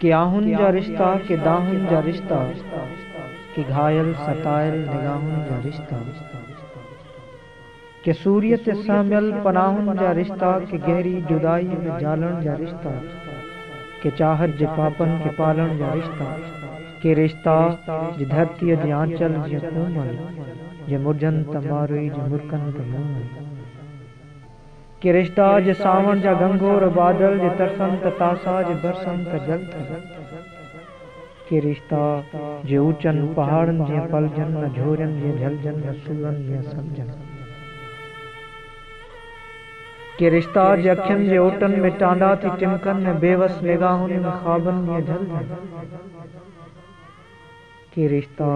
ڪي آهن جا رشتا، ڪي دانهن جا رشتا، ڪي گهايل ستايل نگاهن جا رشتا، ڪي سوريء تي سهميل پناهن جا رشتا، ڪي گهري جدائيء ۾ جهلڻ جا رشتا، ڪي چاهت جي پاپن کي پالڻ جا رشتا، ڪي رشتا جي ڌرتيء جي آنچل جيئن ڪومل، جي مرجهن ته ماروئي جي مرڪن ته مومل. ڪرشتا جي سانوڻ جا گهنگهور بادل جي ترسن ته تاسا جي برسن ته جل ٿيا. ڪرشتا جي اوچن پهاڙن جيئن پلجن نه جهورين جيئن جهلجن نه سورن جيئن سمجن. ڪرشتا جي اکين جي اوٽن ۾ ٽانڊا ٿي ٽمڪن ۽ بيوس نگاهن ۾ خوابن جيئن جهلجن. ڪي رشتا،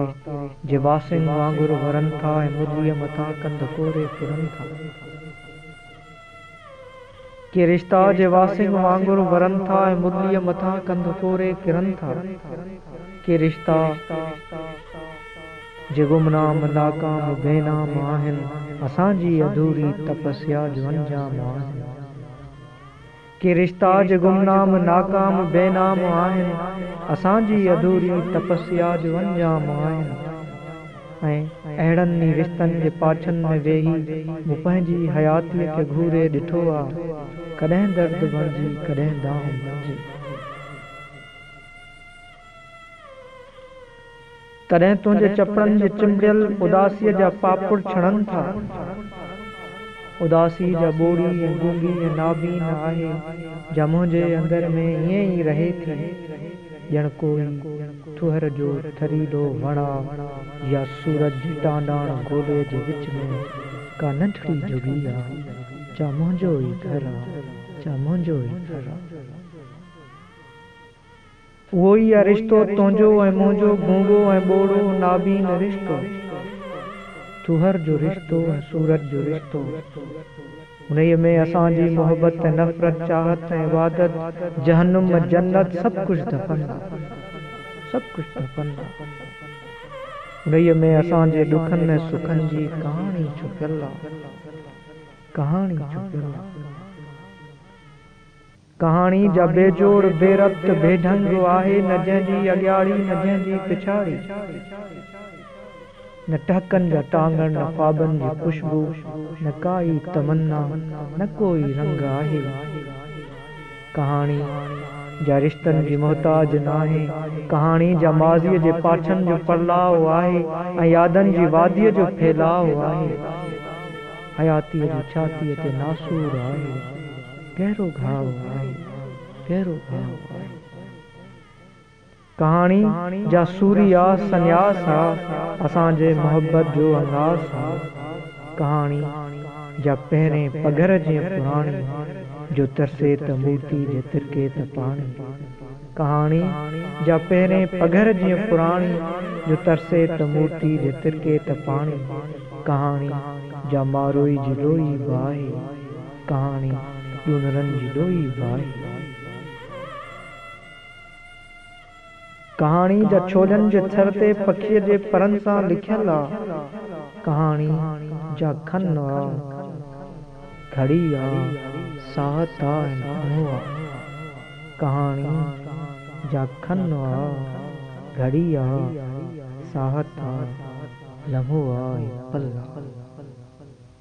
جي باسنگ وانگر ورن ٿا ۽ مرليء مٿان ڪنڌ ڪوري ڦرن ٿا. ڪي رشتا، جي باسنگ وانگر ورن ٿا ۽ مرليء مٿان ڪنڌ ڪوري ڦرن ٿا. ڪي رشتا، جي گمنام، ناڪام، بي نام آهن، اسان جي اڌوري تپسيا جو انجام آهن. ڪي رشتا جو گمنام ناڪام بي نام آهن اسان جي اڌوري تپسيا جو انجام آهن ۽ اهڙن ئي رشتن جي پاڇن ۾ ويهي مون پنهنجي حياتي کي گهوري ڏٺو آ ڪڏهن درد بڻجي ڪڏهن دانهن بڻجي. ڪڏهن تنهنجي چپڙن جي چنبڙيل اداسيء جا پاپڙ ڇڻن ٿا. اداسي جا ٻوڙي ۽ گونگي ۽ نابين آهي جا منهنجي اندر ۾ ائين ئي رهي ٿي ڄڻ ڪوئي ٿوهر جو ٿريلو وڻ آ يا سورج جي ٽانڊاڻ گولي جي وچ ۾ ڪا ننڍڙي جهڳڙي آ جا منهنجو ئي گهر آ جا منهنجو ئي گهر آ. اهو ئي آ رشتو تنهنجو ۽ منهنجو گونگو ۽ ٻوڙو نابين رشتو ٿوهر جو رشتو ۽ صورت جو رشتو انهيء ۾ اسان جي محبت ۽ نفرت چاهت ۽ عبادت جهنم ۽ جنت سڀ ڪجهه دفن آ سڀ ڪجهه دفن آ انهيء ۾ اسان جي ڏکن ۽ سکن جي ڪهاڻي ڇپيل آ ڪهاڻي ڇپيل آ. ڪهاڻي جا بيجوڙ، بي ربط، بي ڍنگ آهي، نه جنهن جي اڳياڙي، نه جنهن جي پڇاڙي. نه ٽهڪن جا ٽانگڻ، نه خوابن جي خوشبو، نه ڪا ئي تمنا، نه ڪو ئي رنگ آهي. ڪهاڻي جا رشتن جي محتاج ناهي، ڪهاڻي جا ماضيء جي پاڇن جو پرلاء آهي ۽ يادن جي واديء جو ڦهلاء آهي. حياتيء جي ڇاتيء تي ناسور آهي. گهرو گهاء آهي، گهرو گهاء آهي. ڪهاڻي جا سوري آ سنياس آ، اسان جي محبت جو انگاس آ. ڪهاڻي جا پهرين پگهر جيئن پراڻي، جو ترسي ته موتي جي ترڪي ته پاڻي. ڪهاڻي جا پهرين پگهر جيئن پراڻي، جو ترسي ته موتي جي ترڪي ته پاڻي. ڪهاڻي جا ماروئي جي لوئي به آهي. ڪهاڻي ڏونرن جي ڏوهي باهه. ڪهاڻي جا ڇولين جي ٿر تي پکيء جي پرن سان لکيل آ. ڪهاڻي جا کن آ، گهڙي آ، ساهه تا ۽ ڪنهو آ. ڪهاڻي جا کن آ، گهڙي آ، ساهه تا، لمحو آ ۽ پل آ.